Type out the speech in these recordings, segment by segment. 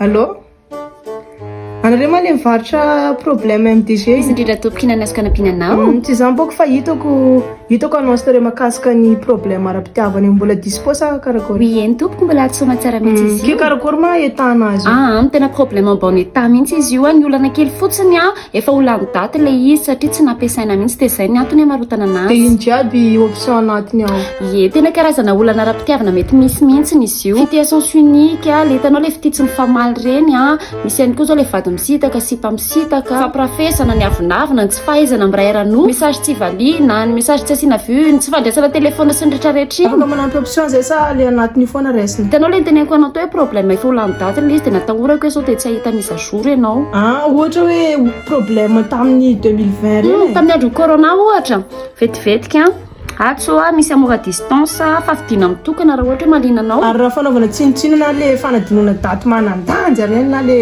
Allô Anareo ma le mivarotra problème MDG Izy indrindra tompoko na nasoka nampiananao mm, Tsy izany boko fa hitako hitako annonce nareo makasika ny problème ara-pitiavana io mbola dispo sa karakory Oui eny tompoko mbola ato soma tsara mihitsy izy mm, io Ke karakory ma etana azy Ah, ah tena problème en bon état mihitsy izy io ah, ny olana kely fotsiny ah Efa ho lany daty le izy satria tsy nampiasaina mihitsy dia izay ny antony hamarotana anazy. Dia iny jiaby option anatiny ao. Ie, tena karazana olana ara-pitiavana mety misy mihitsy ny izy io. Fitia à sens unique a, le hitanao le fitia tsy mifamaly ireny a, misy ihany koa zao le vady misitaka, sipa misitaka, fampirafesana, ny avonavona, ny tsy fahaizana miray ara-noa, message tsy valiana, ny message tsy asiana vue, ny tsy fandraisana telephone sy ny retraretra iny. Afaka manampy option zay sa le anatiny io foana raisina? Hitanao le niteneniko anao teo hoe problème efa ho lany daty le izy dia natahorako hoe sao dia tsy hahita mise à jour. jour ianao. Ah ohatra hoe problème tamin'ny 2020 ireny hmm, e. Tamin'ny andron'ny corona ohatra, vetivetika an. Atsy hoa misy amour à distance, fa fidina mitokana raha ohatra hoe malina anao. Ary raha fanaovana tsinontsinona le fanadinoana daty manan-danja ireny na le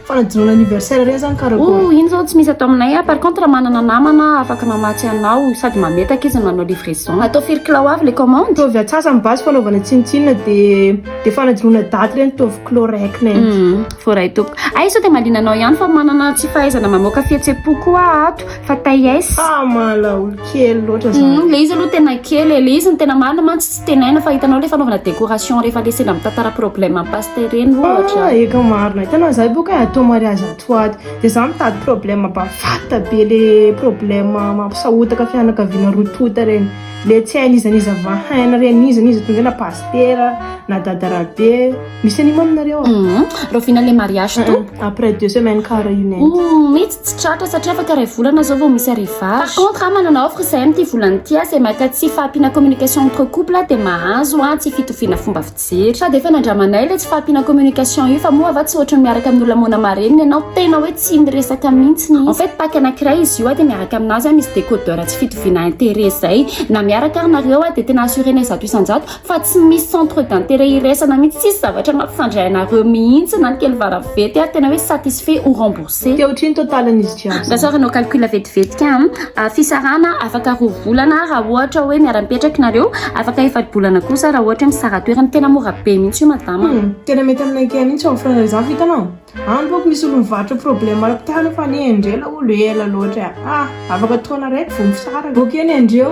fanadinoana anniversaire ireny zany karakôry? Oh, iny zao tsy misy atao aminay. Par contre manana namana afaka mamatsy anao sady mametaka izy manao livraison. Atao firy kilao avy le commande? Ataovy atsasany basy fanaovana tsinontsinona dia dia fanadinoana daty ireny ataovy kilao iraika nety. Hmm. Voaray tompoko. Ay sao dia mahaliana anao ihany fa manana tsy fahaizana mamoaka fihetsem-po koa ato fa taies. Ah mala olo kely loatra za. Hum, le izy aloha tena kely e, le izy ny tena marina mantsy tsy tenaina fa hitanao le fanaovana décoration rehefa le sendra mitantara problème am paste ireny ohatra. Ah eka marina, hitanao za boka e atao mariage ato ho ato de za mitady problème bavata be le problème mampisahotaka fianakaviana roa tonta reny, le tsy hain'iza n'iza vahaina reny, iza n'iza tonga eo na pasitera na dada rabe. Misy an'io mama nareo a? Mhm. Rahoviana ilay mariage to? Mhm. Après deux semaines ka réunion. Mhm, mihitsy tsy tratra satria afaka iray volana zao vao misy arrivage. Par contre, ah, manana offre izahay amin'ity volana ity ah, izay maka tsy fahampiana communication entre couple ah, dia mahazo ah, tsy fitoviana fomba fijery. Sady efa nandramanay ilay tsy fahampiana communication io fa moa va tsy ohatry ny miaraka amin'ny olona moana marenina ianao tena hoe tsy miresaka mihitsy ny. En fait, pack anankiray izy io ah, dia miaraka aminazy ah, misy décodeur tsy fitoviana intérêt izay. Na miaraka ary nareo ah, dia tena assurer-nay zato isan-jato fa tsy misy centre d'intérêt iraisana mihitsy tsisy zavatra mampifandray anareo mihitsy na ny kely varavety ary tena hoe satisfait ou remboursé Dia ohatry ny totalin'izy jiaby izany. Rasoir hanao calcul vetivetika an, fisarahana afaka roa volana raha ohatra hoe miara-mipetraka nareo, afaka efa-bolana kosa raha ohatra hoe misara-toerana, tena mora be mihitsy io madama a. Humm, tena mety aminay kay mihitsy io offre-nareo izany fa hitanao? Any boko misy olo mivarotra problème ara-pitana fa anie endrela olo ela loatra e ah afaka taona raiky vo misaraka ok anie ndreo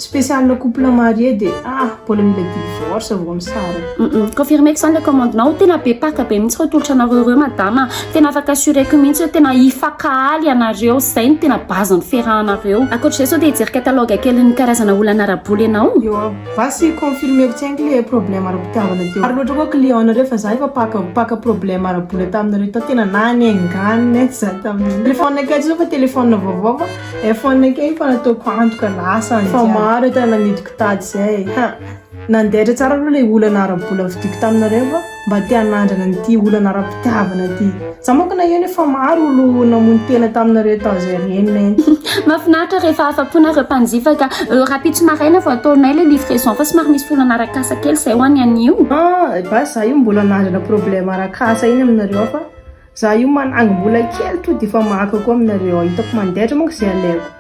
spécial couple marié de ah mbola mila divorce vo misaraka. Humm confirmeko zany le commande nao, tena be paka be mihitsy reo tolotra nareo reo madama a, tena afaka assureko mihitsy oe tena hifakahaly ianareo, zay no tena base ny fiarahanareo, akoatr'izay sao te hijery catalogue kelin'ny karazana olana ara-bola ianao? Vas y confirmer ko tsy haiko le problème ara-pitiavana teo. Maro loatra koa client nareo fa za efa paka paka problème ara-bola taminareo tao tena nanenganina etsy za tamin'io. Téléphone akay zao fa téléphone vaovao fa iPhone akay io fa nataoko antoka lasa any jiaby. Fa maro entana namidiko tady zay ha. Nandehatra tsara aloha le olana ara-bola vidiako taminareo fa. mba te hanandrana an'ity olana ara-pitiavana ity. Za manko naheno hoe fa maro olo namono tena taminareo tao zay renina iny. Mahafinaritra rehefa afa-po nareo mpanjifa ka. Rahampitso maraina vao ataonay ilay livraison fa somary misy olana arak'asa kely izay ho an'ny anio. Ah, basy za io mbola nandrana problème arak'asa iny aminareo ao fa Za io manangy mbola kely to defa maka koa aminareo ao itako mandehatra manko zay aleko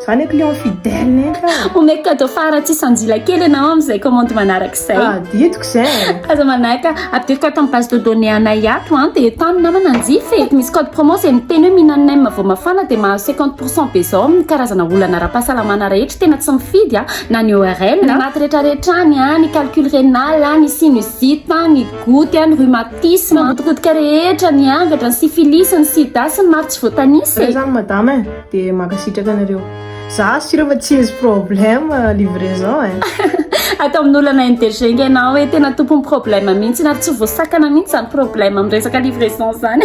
za ne client fidèle ne ka omeko cadeau fara tsy sanjila kely anao amizay commande manaraka zay ah ditiko zay aza manaka apidiriko ato am base de données anay ato an de tany namana anjifa e misy code promo zay miteny hoe minan nem vao mafana de mahazo cinquante pour cent be zao amin'ny karazana olana ara-pahasalamana rehetra tena tsy mifidy a na ny ORL ny maty retraretra any a ny calcul renal a ny sinusite a ny goutte a ny rhumatoid Tis mankotikotika rehetra niangatra sy Fili sy ny Sida sy ny maro tsy voatanisa e. Zay zany madame e, de mankasitraka anareo. Za sy ireo fa tsy misy problème livraison e. Ato amin'ny olana MDG nga ianao e, tena tompon'ny problème mihitsy ary tsy voasakana mihitsy zany problème amin'ny resaka livraison zany.